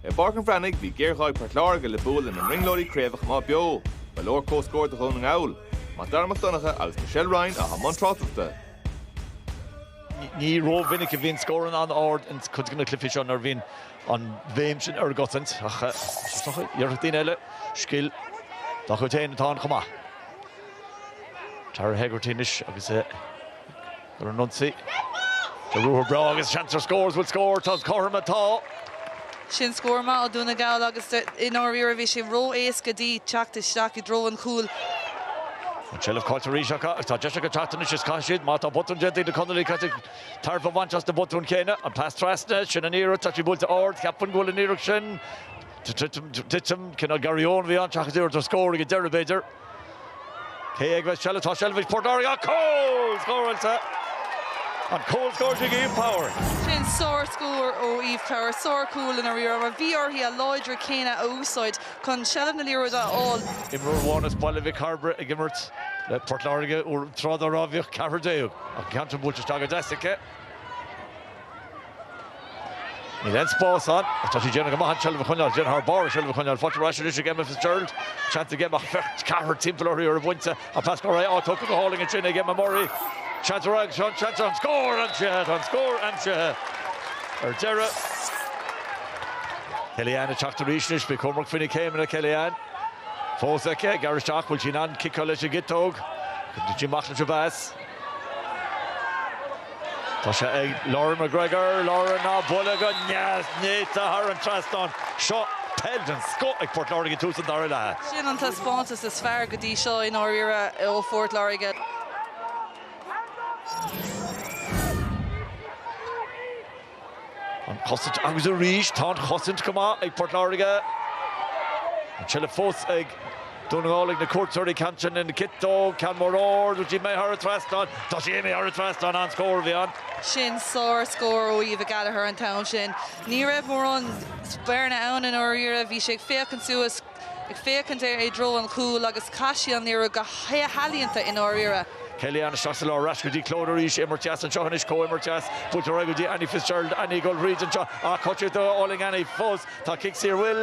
I bPáirc an Bhreathnaigh, bhí géarghá ag Port Láirge le bua lena mbrionglóidí craoibhe a choimeád beo. Ba leor comhscór do Dhún na nGall. MacDara Mac Donncha agus Michelle Ryan atá i mbun tráchtaireachta. Ní ró-mhinic a bhíonn scóranna an-ard ins cuid de na cluichí seo nuair a bhíonn an bhéim sin ar an gcosaint ach déarfadh daoine eile scil dá chuid féin atá ann chomh maith. Tara Hegarty anois agus Ar an ionsaí, le ruathar breá agus seans ar scór, is bhfuil scór, tá scór maith, tá. Sin scór maith ó Dhún na nGall agus i ndáiríre bhí sé ró-éasca di teacht isteach i dtreo an chúil. An tseilbh caillte arís acu agus tá deis acu teacht anois is caithfidh siad, má tá botún déanta ag na Conallaigh caithfidh siad tairbhe a bhaint as na botúin chéanna. An pas trasna, sin an iarracht, tá sí buailte ard, cheapfainn go bhfuil an iarracht sin, titim, cineál Garraí Eoin a bhí ann seachas iarracht ar scór ag an deireadh b'fhéidir. Cé aige a bheidh seilbh? Tá seilbh ag Port Láirge ach cúl scóráilte! An cúl scóráilte ag Eve Power. Sin sár-scór ó Eve Power, sár-chúl i ndáiríre, mar bhí uirthi a láidre céanna a úsáid chun seilbh na liathróide a fháil. Imreoir amháin as Baile Mhic Cairbre ag imirt le Port Láirge, tráth dá raibh bhíodh ceathrar déag, ach an ceann sin buailte isteach go deas aici. Níl aon spás ann. Ach tá sí ag déanamh go maith an tseilbh a choinneáil. Déanamh thar barr an tseilbh a choinneáil faighte ar ais anois ag Emma Fitzgerald. Seans ag Emma, ceathrar timpeall uirthi oraibh bhainte. An pas ar aghaidh, tógtha go hálainn ansin ag Emma Murray. Seans a rá ag Seán Seansa an scór aimsithe. Tá an scór aimsithe ar deireadh. Kellyanne ag teacht arís anois. Bí cúramach faoi na céimeanna Kellyanne. Fós aici, gearr isteach. Bhfuil sí in ann ciceáil leis an gciotóg. Go dtitfidh sí amach leis an mheas. Tá sé ag Lauren McGregor, Lauren á bualadh go deas néata thar an trasnán. Seo peil den scoth ag Port Láirge ag tús an dara leatha. Sin an taispeántas is fearr go dtí seo i ndáiríre ó Phort Láirge. An chosaint agus arís tá an chosaint go maith ag Port Láirge. An tseilbh fós ag Dún na nGall ag na cuairteoirí, ceann sin lena ciotóg, ceann mór ard, bhfuil sí imithe thar an trasnán, tá sí imithe thar an trasnán, an-scór a bhí ann. Sin sár scór ó Eva Gallagher an t-am sin. Ní raibh mórán bearna ann i ndáiríre, bhí sé ag féachaint suas, ag féachaint ar i dtreo an chúil agus chaith sí an iarracht go healaíonta i ndáiríre. Kelly Ann isteach sa lár, ar ais go dtí Clodagh arís, imirt dheas anseo anois, comhimirt dheas, buailte ar aghaidh go dtí Annie Fitzgerald, Annie ag dul thríd anseo ach cutcheck do Olling Annie, fós tá cic saor, bhuel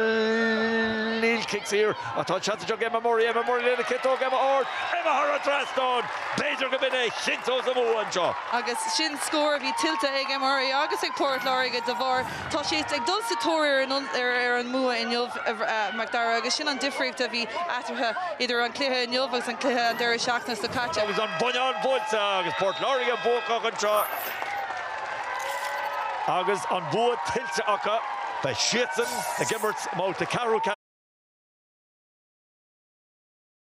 níl cic saor ach tá an seans anseo ag Emma Murray, Emma Murray lena ciotóg, Emma ard, Emma thar an trasnán, b'fhéidir gurb in é a chinnteos a mbua anseo. Agus sin scór a bhí tuillte ag Emma Murray agus ag Port Láirge de bharr. Tá siad ag dul sa tóir ar an mbua inniu, a Mhacdara, agus sin an difríocht a bhí eatarthu idir an cluiche inniu agus an cluiche an deireadh seachtaine seo caite. Agus An Buinneán buailte agus Port Láirge buacach anseo agus an bua tuillte acu, beidh siadsan ag imirt i mbabhta ceathrú